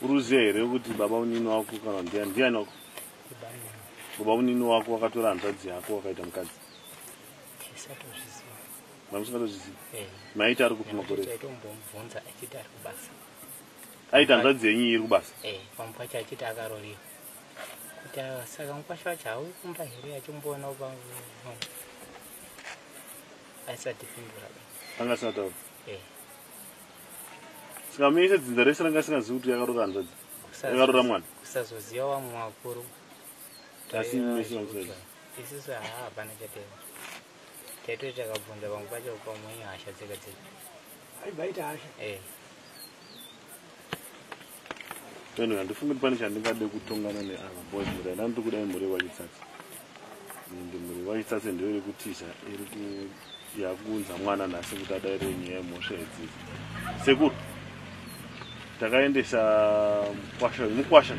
uruziva here kuti baba unini wako kana ndiani ndiani wako baba unini wako wakatora hanzvadzi yako wakaita mukadzi mamusingatozviziva eh. maiti ari kupi makore aita hanzvadzi yenyu iri kubasa eh, kuti awa saka mukwasha wacho hauyi kumba here achimboonawo pangu aisati pindura anga asina taura eh. saka muise dzinza rese ranga asingazivi kuti yakarora hanzvadzi yakarora mwana kusazoziva wamwe wakuru asi mese vamusaziva isisu haa hapana chatema taitoti takabvunza pamwe pacho pamwe ihasha dzega dzega aibaita hasha eh. Anyway, handifungi kuti pane chandingade kutongana neava boys mhuri yandani tiri kuda imhuri yewachitsatsi and mhuri yewachitsatsi ndiyo iri kutiza iri yakunza mwana nhasi kuti adaire nyaya yemhosva idzidzi sekuru takaendesa mukwasha wenyu mukwasha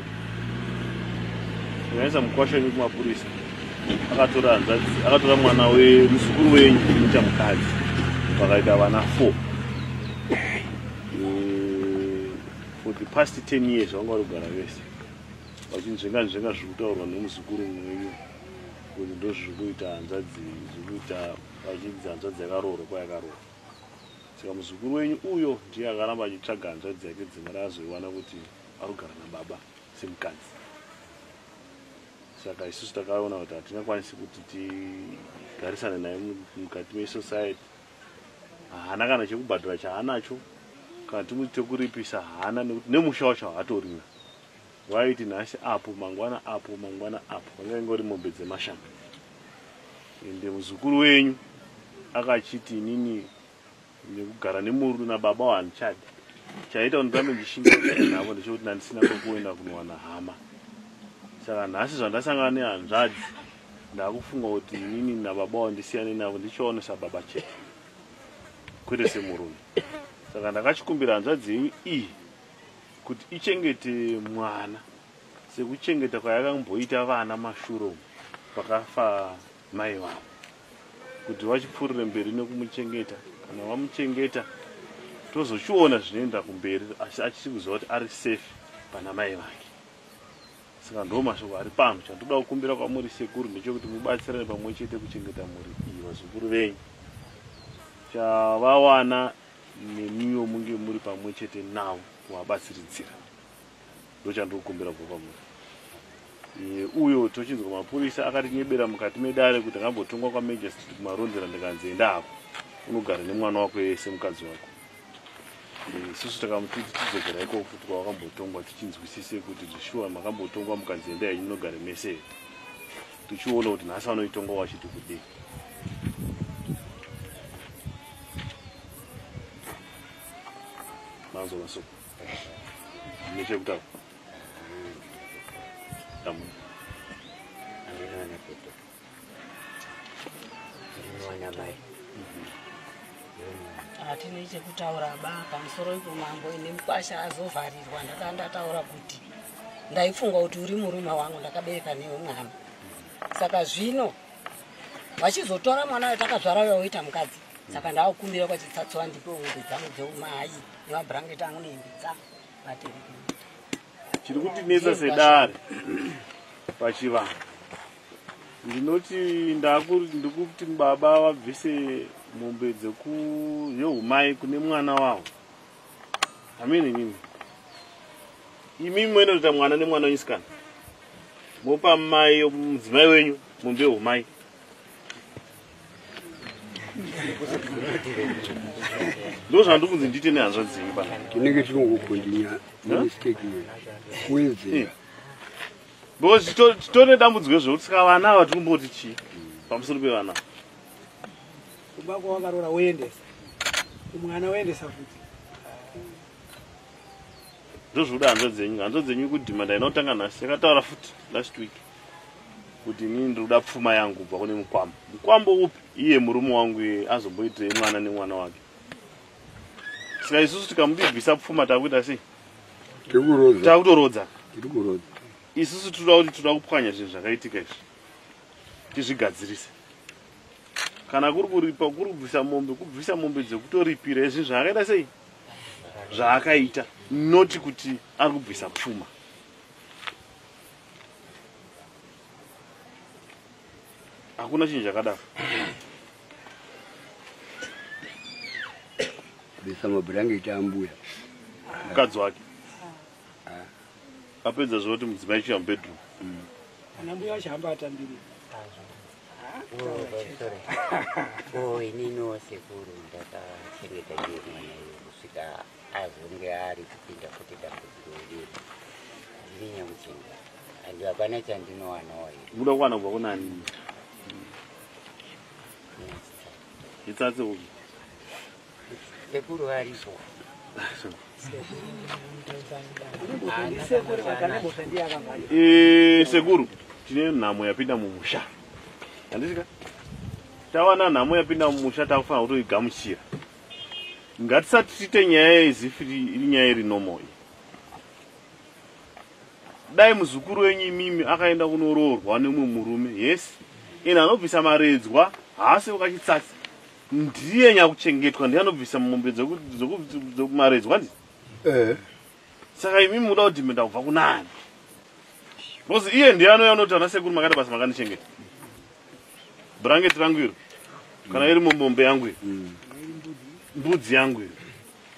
takaendesa mukwasha wenyu kumapurisa akatora hanzvadzi akatora mwana wemuzukuru wenyu kuita mukadzi vakaita vana four for the past 10 years vanga vari kugara vese vachinzvenga nzvenga zviri kutaurwa nemuzukuru mwenyu kuti ndozviri kuita hanzvadzi zviri kuita vachinzi hanzvadzi yakaroorwa kwayakaroorwa saka muzukuru wenyu uyo ndiye akaramba achitsvaga hanzvadzi yake dzimwe raazoiwana kuti ari kugara nababa semukadzi saka isusu takaona kuti hatingakwanisi kuti tigarisane naye mukati mesociety haana kana chekubhadhara chaanacho kana timuti tekuripisa haana nekuti nemusha wacho haatorina waiti nhasi apo mangwana apo mangwana apo vanga ingori mombe dzemashanga ende muzukuru wenyu akachiti inini nekugara nemurudo nababa wahandichadi chaita kuti ndirambe ndishingaaa navo ndechekuti ndandisina kwekuenda kunowana hama saka nhasi zvandasangana nehanzvadzi Ndakufunga kuti inini nababa wandisiyane navo ndichiona sababa chete kwete semurume saka ndakachikumbira hanzvadzi yenyu iyi kuti ichengete mwana sekuchengeta kwayakamboita vana mashuro pakafa mai vavo kuti vachipfuurire mberi nekumuchengeta kana vamuchengeta tozochiona zvinoenda kumberi asi achisi kuziva kuti ari safe pana mai vake Saka ndo mashoko ari pano. Chandoda kukumbira kwamuri sekuru ndechekuti mubatsirane pamwe chete kuchengeta mhuri iyi vazukuru venyu. Chavawana nemiwo munge muri pamwe chete navo kuvabatsiridzira. Ndochandikukumbira kubva kwamuri. Eh, uyo tochinzwa mapurisa akatinyebera mukati medare kuti akambotongwa kwamajestrit kumarondera ndikanzi enda hako unogara nemwana wako yese mukadzi wako Eh, isusu takamuti tichidzokera ikoko kuti kwavakambotongwa tichinzwisise kuti zvishuwa makambotongwa mukanzi endai henyu munogare mese tichiona kuti nhasi vanoitongwa vachiti kudii manzwa masoko nechekutaura hatine chekutaura ba pamusoro ipo mambo ine mukwasha azovharirwa ndakaa ndataura kuti ndaifunga kuti uri murume wangu ndakabereka newe mwana saka zvino vachizotora mwana ayo takazvara uya woita mukadzi saka ndaakukumbira kwachitsatso vandipe hove dzangu dzeumai nemabhurangeti angu nehembe dzangu vatereke chiri kutinetsa sedare pachivanhu ndinoti ndikuti baba vabvise mombe dzekuyohumai kune mwana wavo amene nyini imi moinoita mwana nemwana wenyu sikana mopa mai mudzimai wenyu mombe yehumai ndozvandiri kunzi ndiite nehanzva dzenyu paa tinenge tinongokondinya nemistake wenze Because chito- chitori nedambudziko zvekuti saka vana ava tiri kumboti chii pamusoro pevana ava? kumba kwawakarora woendesa kumwana woendesa futi ndozvikuda hanzva dzenyu hanzva dzenyu kudhima ndainotanga nhasi yakataura futi last week kuti inini ndiri kuda pfuma yangu kubva kune mukwambo mukwambo upi iye murume wangu iye azomboitei mwana nemwana wake saka isusu tikamudibvisa pfuma takuita sei takutorodza isusu tinoda kuti tinoda kupwanya zvinhu zvakaitika izvi tizvigadzirise kana kuri kuripa kuri kubvisa mombe kubvisa mombe dzekutoripira izvi zvaakaita sei zvaakaita noti kuti ari kubvisa pfuma hakuna chinhu chakadaro besa mabhurangeti ambuya mukadzi wake apedza zvoti mudzimai chiya mubedroom mm. ana mbuya vachihamba atambiri oh, ininiwo sekuru ndakachengeta iyo mwana iyo kusvika azonge ari kupinda kuti dambudziko iri ndinyanguchenga andi hapana chandinowanawo iyo muda kuwana kubva kunani Itsatse uku. Sekuru varipo. Eh, sekuru tine nhamo yapinda mumusha. Handisika? Tawana nhamo yapinda mumusha takufanira kutoigamuchira. Ngatisati tiite nyaya yezifiri iri nyaya iri normal. dai muzukuru wenyu imimi akaenda kunoroorwa nemumwe murume yes and anobvisa maredzwa haasi ukachitsatsi ndiye nyakuchengetwa ndiye anobvisa mombe dzokumaredzwa ndi eh. saka imimi muda kudhimenda kubva kunani bcause iye ndiye anouya unoti ana sekuru makaita basa makandichengeta brangeti rangu iro kana iri mombe yangu iro mm. mbudzi yangu iro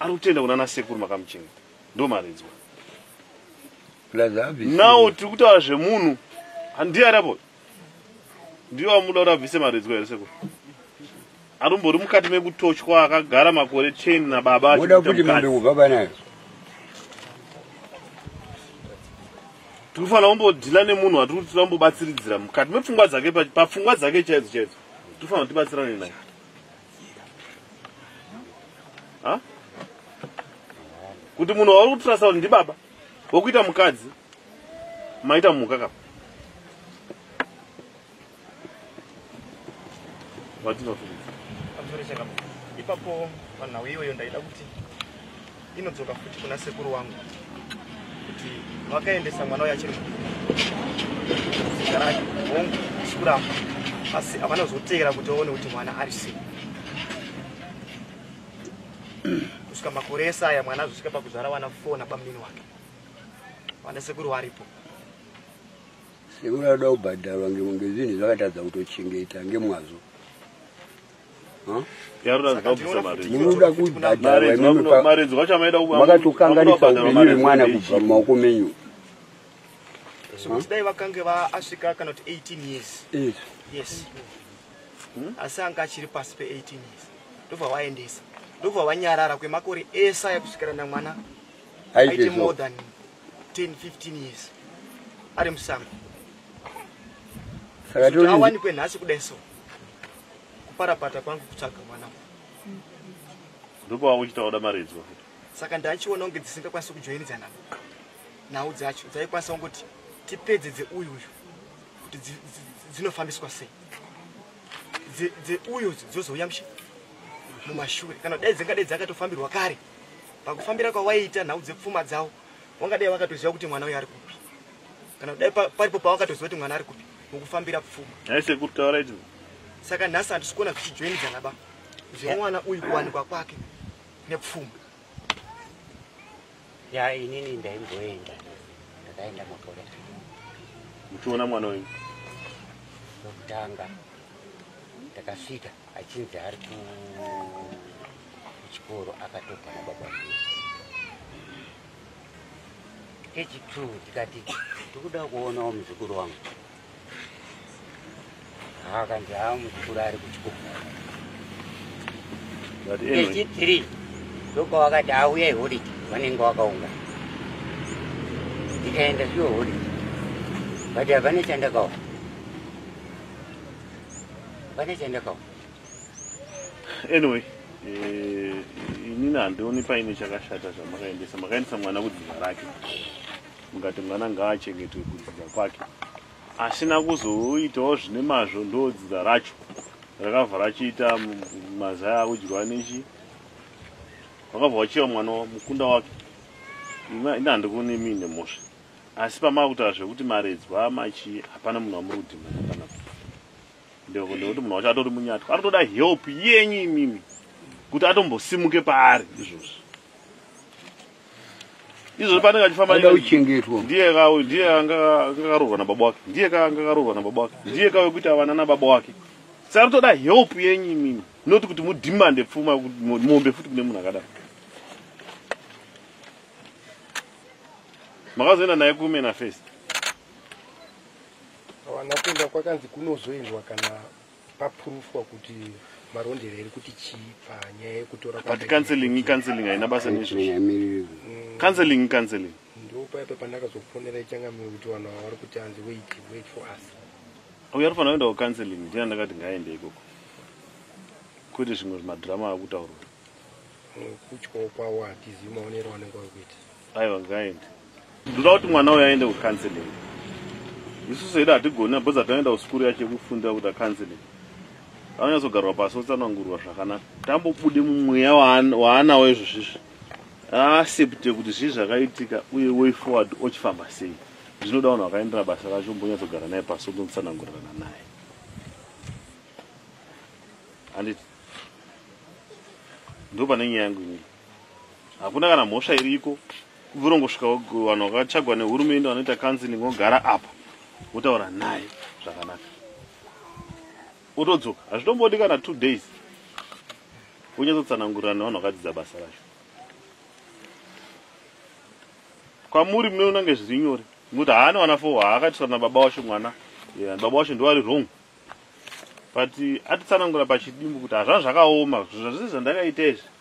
ari kutenda kuna ana sekuru makamuchengeta ndomharidzwa now tiri kutaura zvemunhu handiye ari apo ndiyo wamuda kuti abvise maridzwa here seko arumbori mukati mekutochwa akagara makore ten nababa oda kuti mambe kubva panayo tinofanira kumbodhila nemunhu watiri kuti tinoda kumbobatsiridzira mukati mepfungwa dzake papfungwa dzake chaidzo chaidzo tinofanira kutibatsirane naye ha kuti munhu wauri kutrasa kuti ndibaba wokuita mukadzi maita mhuka kapa vatinofuaa ipapo vanhau iyoyo ndaida kuti inodzoka futi kuna sekuru wangu kuti vakaendesa mwana uyo achiri muzikarake hongu sikuramba asi havana kuzoteera kuti vaone kuti mwana ari sei kusvika makore ese aya mwana azosvika pakuzvara vana fo nabamunini wake vana sekuru varipo sekuru anoda kubhadharwa ngezvinhu zvakatadza kutochengeta ngemwazvo makatokanganisa upenyu hwemwana kubva mumaoko menyu dai vakange vaasvika kana kuti 18 years yes hmm? asi anga achiri pasi pe 18 years ndobva vaendesa ndobva vanyarara kwemakore ese aya kusvikira namwana aite more than 10 15 years ari musango saka awanikwe nhasi kudai so kuparapata kwangu kutsvaga mwana ndopava uchitaura maridzwa saka ndachiona kunge dzisingakwanisi kujoinidzana nhau dzacho dzaikwanisa kungoti tipedze dzeuyu uyu kuti dzinofambiswa sei dzeuyu dzozouya mushe mumashure kana dai dzingadai dzakatofambirwa kare pakufambira kwawaiita nhau dzepfuma dzavo wangadai vakatoziva kuti mwana uyo ari kupi kana kudai paripo pawakatoziva kuti mwana ari kupi mukufambira pfuma aise kuri taura icho saka nhasi handisi kuona zvichijoinidzana ba zvemwana uyu kuwanikwa kwake nepfuma ya inini ndaimboenda ndakaenda makore muchiona mwana uyu wekutanga ndakasvika achinzi ari kuchikoro akatobva nababa kechitru tikati tikuda kuonawo muzukuru wangu akanzi haa muzukuru ari kuchikoro kechithree ndokawakati auyai holiday vanenge wakaunga ndikaenda zviyo holiday but havane chandakawa vane chandakawa anyway eh, inini handioni paine chakashata zvamakaendesa makaendesa mwana kudzidza rake mukati mwana ngaachengetwe kudzidza kwake asina kuzoitawo zvine mazvo ndodzidza racho rakabva rachiita mazaya akudyiwa nechi vakabva vachiva mwana mukunda wake ini handikuoni miine mhosva asi pamava kutaura zvekuti maredzwa machii hapana munhu amuri kudhimana panapa ndekuti munhu wacho atori munyatwa anotoda help yenyu imimi kuti atombosimuke paari izvozvi izvozvi paanenge achifambaauchengetwa ndiye ndiye angakaroorwa nababa wake ndiye ka angakaroorwa nababa wake ndiye ka wekuti avana nababa wake sa anotoda help yenyu imimi not kuti mudhimande pfuma mombe futi kune munhu akadaro makazoenda naye kumena face Havana kuenda kwakanzi kunozoendwa kana papurufwa kuti marondero iri kuti chii panyaya yekutora but counseling counseling haina basa nezvozvo mm. counseling counseling ndo paipa pandakazofonera ichangamiro kuti vanhu ava vari kuti hanzi wait wait for us uyo ari fanira kuenda kucounseling ndina ndakati ngaaende ikoko kwete zvimwe zvimadhirama akuta uri kutyawo kwawo hatizivi maonero anenge vari kuita aiwa ngaende ndoda kuti mwana uyo aende kucounseling isu sedu hatigoni abhozi atanoenda kusikuru yacho yekufunda kuti acounseling anonyatsogarwa pasi otsanangurwa zvakanaka tambobude mumweya waanawo izvozvizvi aasepte kuti zvii zvakaitika uye way forward ochifamba sei zvinoda vanhu vakaendera basa racho mbonyatsogara naye pasi otonotsanangurirana naye anditi ndo pane nyaya yangu inini hakuna kana mhosva iriko kubvira ungosvika vanhu vakachagwa nehurumende vanoita counseling ogara apa wotaura naye zvakanaka otodzoka hazvitombodi kana two days wonyatsotsanangurira nevanhu vakadzidza basa racho kwamuri munoona kunge zviri nyore nokuti haana wana fo haakatisana nababa wacho mwana baba wacho ndovari wrong but atitsanangura pachidimbu kuti hazvana zvakaoma zvazvese zvandakaita izvi